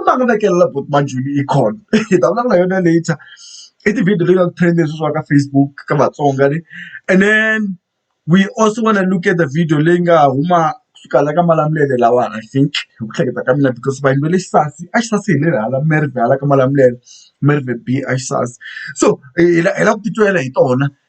u ta ku vekelela buti manjhuni yi kona hi ta vulavula hi yona later i ti-video leti nga ku trend-a sweswiwa ka Facebook ka Vatsonga le and then we also wanna look at the video leyi nga huma kusuka la ka Malamulele lawani I think hi ku hleketa ka mina because vanhu va le Xisasi a Xisasi hi lele hala Merivale hala ka Malamulele Merivale B a Xisasi so hi lava ku titwela hi tona.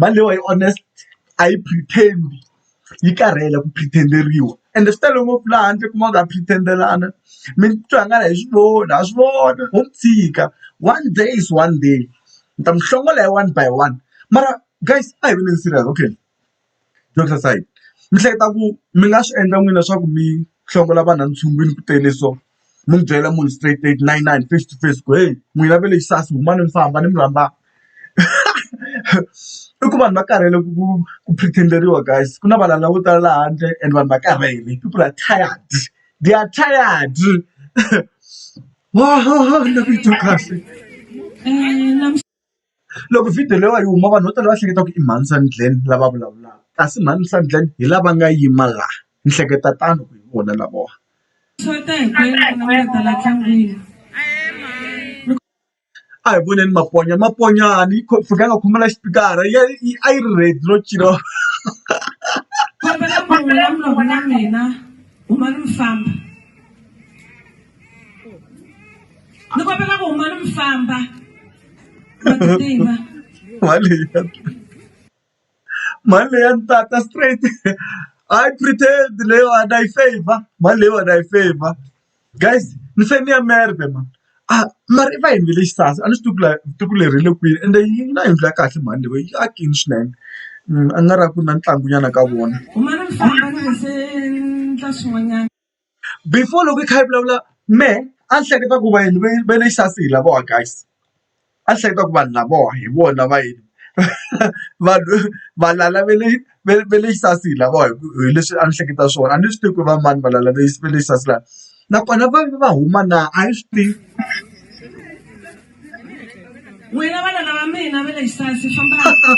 Mali leyiwani yi honest a yi pretend-i, yi karhele ku pretend-eriwa. Ende swi tele ngopfu laha handle u kuma ku ha pretend-elana, mi titwa ingari ha swi voni, ha swi vona ho tshika. One day is one day. Ni ta mi hlongola hi one by one. Mara guys a hi veleni serious okay. Doctor sign mi hleketa ku mi nga swi endla n'wini leswaku mi hlongola vanhu a ntshunguwini ku tele so mi byela munhu straight straight na inani face to face ku heyi n'wina va le Ixaso humani mi famba ni mi rhambaka i ku vanhu va karhele ku ku pretend-eriwa guys ku na valala vo tala laha handle and vanhu va karhele people are tired they are tired ingaku yi twa kahle . Loko video leyiwani yi huma vanhu vo tala va hleketa ku i mhani Sandglen lava vulavulaka kasi mhani Sandglen hi lava nga yima la ni hleketa tano hi vona lavawani. A hi voneni maponya maponyani yi fika a nga khomanga xipikara a yi ri ready no cina hahahaha. ni kombela ku huma ni mi famba ma ti tiva mali leyi ya mali leyi ya ntata straight i pretend leyiwani i favor mali leyiwani i favor guys ni fane ni ya merve ma a mari va yini ve le xisasa a ni swi tivi ku la tivi ku leri hi le kwini ende yi na yindlu ya kahle mali leyi yi akini swinene a nga ri ku na ntlangunyana ka vona huma ni mi famba ni nga se ndla swin'wanyana before loko hi kha hi vulavula mehe a ni hleketa ku vayeni va va le xa si hi lavawa guys a ni hleketa ku vanhu lavawa hi vona va yini vanhu valala va le va le va le xa si hi lavawa hi ku hi leswi a ni hleketa swona a ni swi tivi ku va mani valala va va le xa si la nakona va va huma na a hi swi tivi n'wina vana lava mina va le xisasi fambaka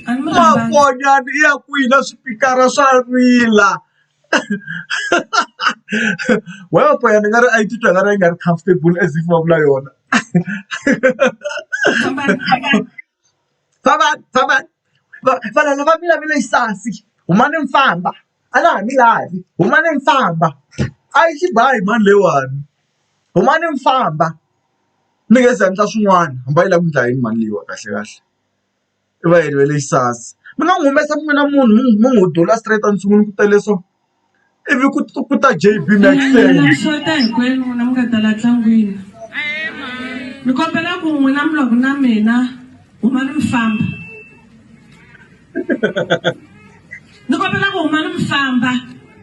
a ni mi rhandzanga. makonyana ya kwini na swipikara swa rila. ni nga ri a yi titwa i nga ri a yi nga ri comfortable as if va vula yona valala va mina va le Ixasi humani mi famba a na ha mi lavi humani mi famba a yi xi ba hi mani leyiwani humani mi famba mi nge se endla swin'wana hambi a yi lava ku endla yini mali leyiwani kahlekahle. i va yini va le Ixas mi nga n'wi humesa mi vona munhu mi n'wi n'wi dula straight a ni sungula ku tale so ivi ku ku ta JB xota hinkwenu n'wina mi nga ta la tlangwini ni kombela ku n'wina mi loko na mina huma ni mi famba ni kombela ku huma ni mi famba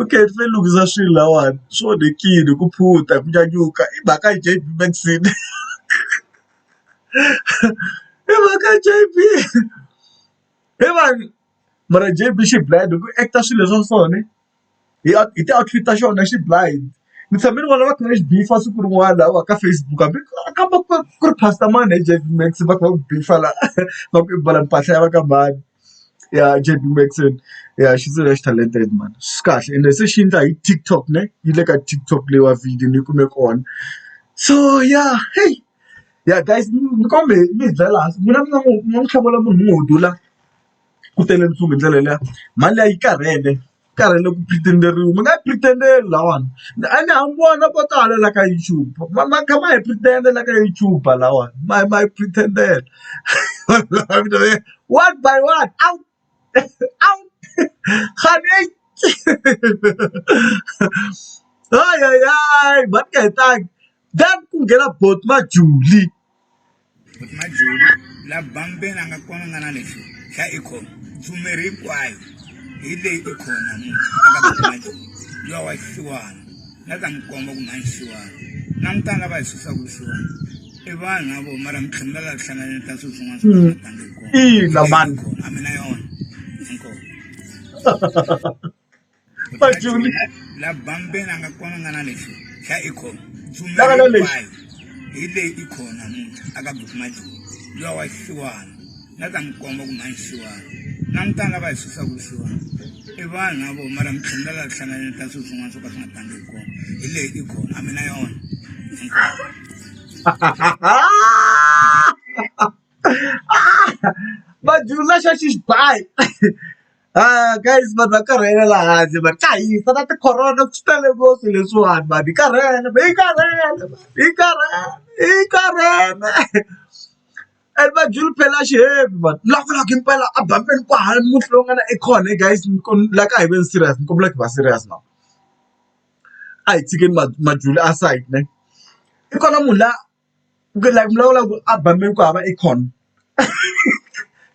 okay ni fanele ni lunghisa swilo lahawani swi onhekile ku phunta ku nyanyuka i mhaka ya J_B Maxine i mhaka ya J_B he vanhu mara J_B xi blind hi ku act-a swilo swa so ne hi hi ti-outfit ta xona xi blind ni tshame ni vona va kha va xi beef-a siku rin'wana lahaya ka Facebook hambi a ka ku ri pastor mani J_B Max va kha va ku beef-a la va ku i mbala mpahla ya va ka mani. ya J_B Morrison ya xindziva lexi talented mhani swi kahle ende se xi endla hi TikTok ne yi le ka TikTok leyiwa video ni yi kume kona so ya heyi ya guys ni kombela mi hi byela hansi n'wina mi nga n'wi mi nga n'wi hlawula munhu un'we wo dula ku tele ntsumi hi ndlela liya mhani liya yi karhele. karhele ku pretend-eriwa mi nga yi pretend-eli lahawani ene ha mi vona vo tala la ka YouTube ma ma kha ma hi pretend-a la ka YouTube lahawani ma ma hi pretend-ela one by one out out kganei hayi hayi hayi mhani ku nga hetanga then ku nghena boti majulie. majoni la bambeni a nga kona nga na lexi xa ikhono tsumeri hinkwayo hi leyi ikhono munhu yo wa xiwana na ta n'wi komba ku mhani xiwana langutana lava hi susaku vusiwana i vanhu na vo mara mitlhemela la hlanganeni ka swilo swin'wana swiatangi kona a mina yona inkomo la bambeni a nga konangana lexi xa ikhono tsumelahinkwayo hi leyi ikhono namuntlha a ka buku majoni lowa wa xiwana na ta n'wi komba ku mhani xiwana langutana lava hi susaku xiwana i vanhu na vona mara mitlhelo la la hlanganeni ka swilo swin'wana swo ka swi nga tangi hi kona hi leyi ikhono a mi na yona majoni laxa xi xi bayi Haa guys vanhu va karhele la handle mhani ka hisa na ti-corona swi tele ngopfu leswiwani mhani hi karhele hi karhele hi karhele hi karhele and va dlula phela xiheveni mhani ni lava ku lava ku yimbelela a bambeni ku hava munhu loyi a nga na acorn he guys ni la ka hi ve ni serious ni kombela ku va serious now a hi tshikeni majuli aside ne i kona munhu la. Ku like mi vulavula ku a ba mi ku hava acorn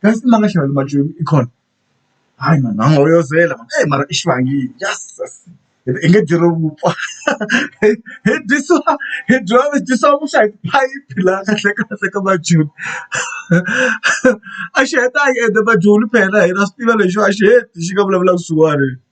kasi mi nga xava mabyoni acorn hayi mhani a wu nga yozela mhani eyi mara i xivangini ya sesi hi ri i nge dyi ri vupfa hi hi dyisiwa hi dyiwa hi dyisiwa vuswa hi phayiphi laha kahle kahle ka mabyoni a xi heta a yi endla mabyoni phela hina swi tiva lexiwa a xi heti xi nga vulavula ku .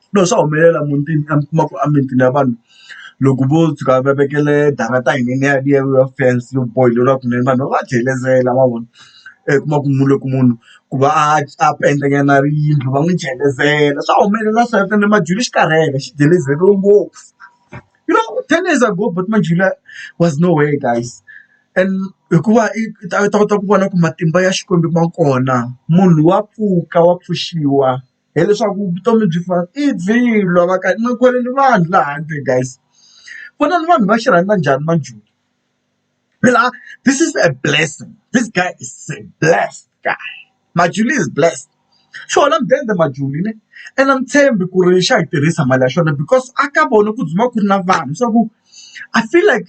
Swilo swa humelela mutini a mi kuma ku emimitini ya vanhu loko vo tshuka va vekele darata yinene yaliya ya fence yo boheriwa kunene vanhu va va jelezela ma vona i kuma ku munhu loko munhu ku va a a penda nyana yindlu va n'wi jelezela swa humelela swa hina Majuli xi karhele xi jelezeriwe ngopfu you know ten years ago buti Manjula was no where guys and hikuva i ta kota ku vona ku matimba ya Xikwembu ma kona munhu wa pfuka wa pfuxiwa. hileswaku vutomi byi fana i byiloho va ka ma kwele ni vanhu laha handle guys vona ni vanhu va xi rhandza njhani manjhula phela this is a blessing this guy is a blessed guy Majuli is blessed xona mudende Majuli ne ene a ni tshembi ku ri xa yi tirhisa mali ya xona because a ka vona ku dzumaka ku ri na vanhu swa ku I feel like.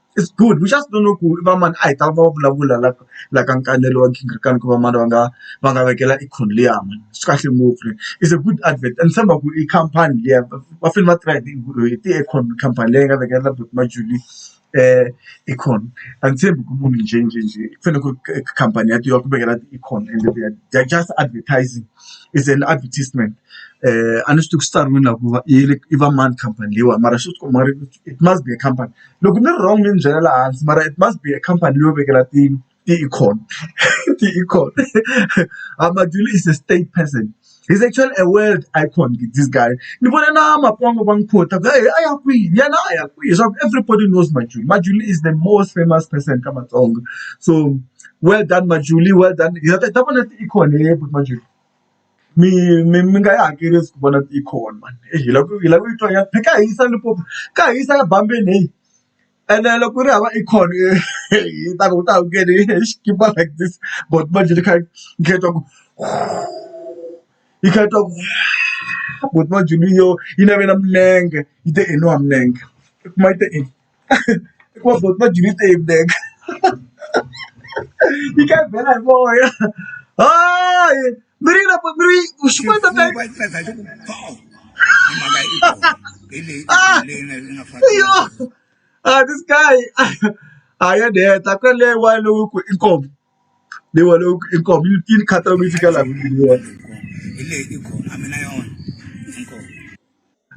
It's good we just don't know ku ri vamani a hi ta va vulavula la la ka nkanelo wa gingirikani ku vamani va nga va nga vekela Econoleum swi kahle ngopfu it's a good advert and ni tshemba ku i khampani liya va fanele va tirha hi ti Econ khampani leyi nga vekela buti Majuly Econ a ni tshembi ku munhu njhe njhe njhe ku fanele ku ri khampani ya tiva ku vekela ti Econ ende they are just advertising is an advertisement a ni swi tivi ku swi tsariwini la ku va i va mani khampani leyiwani mara swi tikomba it must be a company. Loko ni ri wrong mi ni byela laha hansi mara it must be a company leyi yo vekela ti ti-econ ti-econ Madyondza is a state person he's actually a world icon this guy ni vona na makwavo va n'wi quote a ya kwihi yena a ya kwihi leswaku everybody knows Madyondza Madyondza is the most famous person ka Matsonga so well done Madyondza well done hi ta vona ti-econ Madyondza. Mi mi mi nga yi hakeli i swi vona yi khona mhani heyi hi lava ku hi lava ku yi twa hi kha hi yisa Limpopo hi kha hi yisa ya bambini heyi ene loko ku ri hava i khona hi ta ku u ta ku yini hi xikipa like this but manjhe ni kha ni kha ni twa ku yi kha yi twa ku but manjhe ni yo yi navela milenge yi te i nwa milenge i kuma yi te i. hikuva buti na byi ni teyimela yi ka bela hi moya hayi mi ri na mi ri xikwembu ka yo a this guy a ya ni heta ku leyi wa lowu ku i nkomo leyi wa lowu i nkomo yi ni khathalela yi fika laha ku leyi i kona a mina yona inkomo.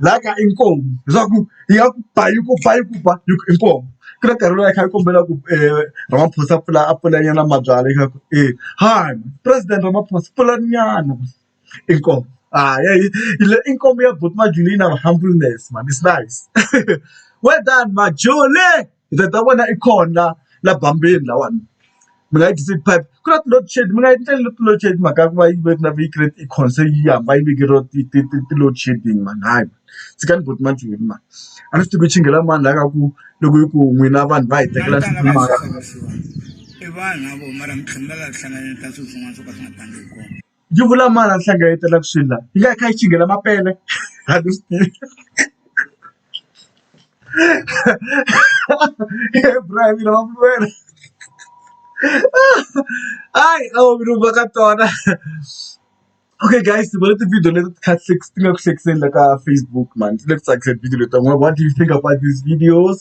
laha kaya i nkomu leswaku yi ya ku ba yi ku ba yi ku ba yi ku i nkomu ku na nkarhi lowu a yi kha yi kombela ku Ramaphosa a pfula a pfula nyana mabyalwa yi kha yi ku e hi president Ramaphosa pfulani nyana i nkomu a ya hi le i nkomu ya buti Majola yi na humbleness mhani is nice well done Majole. Ndzi ta vona i kona laha bambini lahawani mi nga yi tisi pipe ku na ti-load shed mi nga yi endleli ti-load shed mhaka ya ku va yi ve na yi create i concern yi hamba yi veke ro ti ti ti ti-load shedding mani hayi mani tshikani buti manjheni mani a ni swi tivi ku chingela mani laha ka ku loko yi ku n'wina vanhu va hi tekela i vanhu na vona mara mi tlhela mi va lava hlanganeke ka swilo swin'wana swo ka swi nga tangi hi kona. Yi vula mani a ni hlengeletaka swilo laha yi nga yi kha yi chingela mapele a ni swi tivi hayi a wu vuli va ka tona okay guys ni vone ti-video leti ti kha ti ti nga ku hlekiseni la ka Facebook mhani ti le ku tsakiseni video leti ta n'wina what do you think about these videos.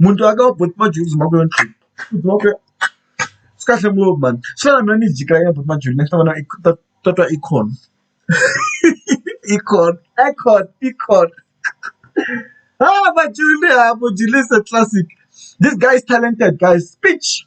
muti wa ka wa buti Majozi hi mhaka yona muti wa ka swi kahle ngopfu mhani swi lava na mina ni jika ya buti Majozi ni ya ta vona i ta ta twa i khona i khona i khona i khona ha Majozi ha Majozi is a classic this guy is talented guys speech.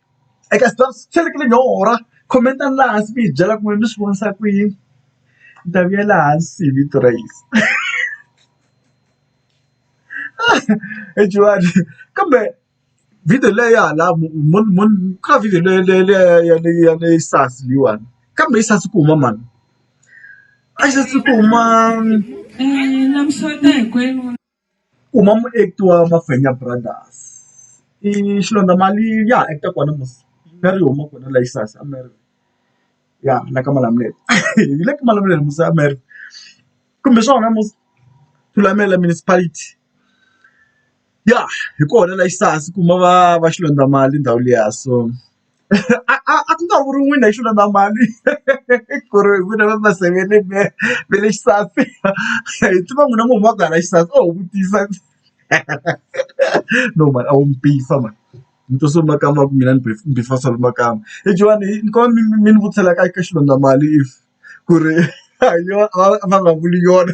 eka Xitsonga swi fanekele no order comment-ani laha hansi mi hi byela ku n'wina mi swi vonisa ku yini ni ta vuyela hansi hi vito ra Yeso he Jehova kambe video leyi ya hala ka video leyi leyi leyi ya leyi ya leyi SARS leyiwani kambe yi saseka ku huma mhani a yi saseki ku huma . Kuma muact wa Mafenya brothers i Xilondza Mali ya ha act kona mos a ri huma kona la Ixas a Mary ya la ka Malamulele hi le ka Malamulele mos a Mary kumbe hi swona mos Thulamela municipality ya hi kona la Ixas kuma va va Xilondza Mali ndhawu liya so. a a a ku nga vuri n'wina hi xilo na mali ku ri hi n'wina va maseveni va va le xisaveni hi tiva n'wina munhu wa ku hala xisati oho vutisa no mhani a wu mpimfa mhani ni twisa ku makama ma ku mina ni mpimfa swa makama hi Johan hi ni kombela mi mi mi ni vutisela ka ka xilondza mali if ku ri a hi yona a va nga vuli yona.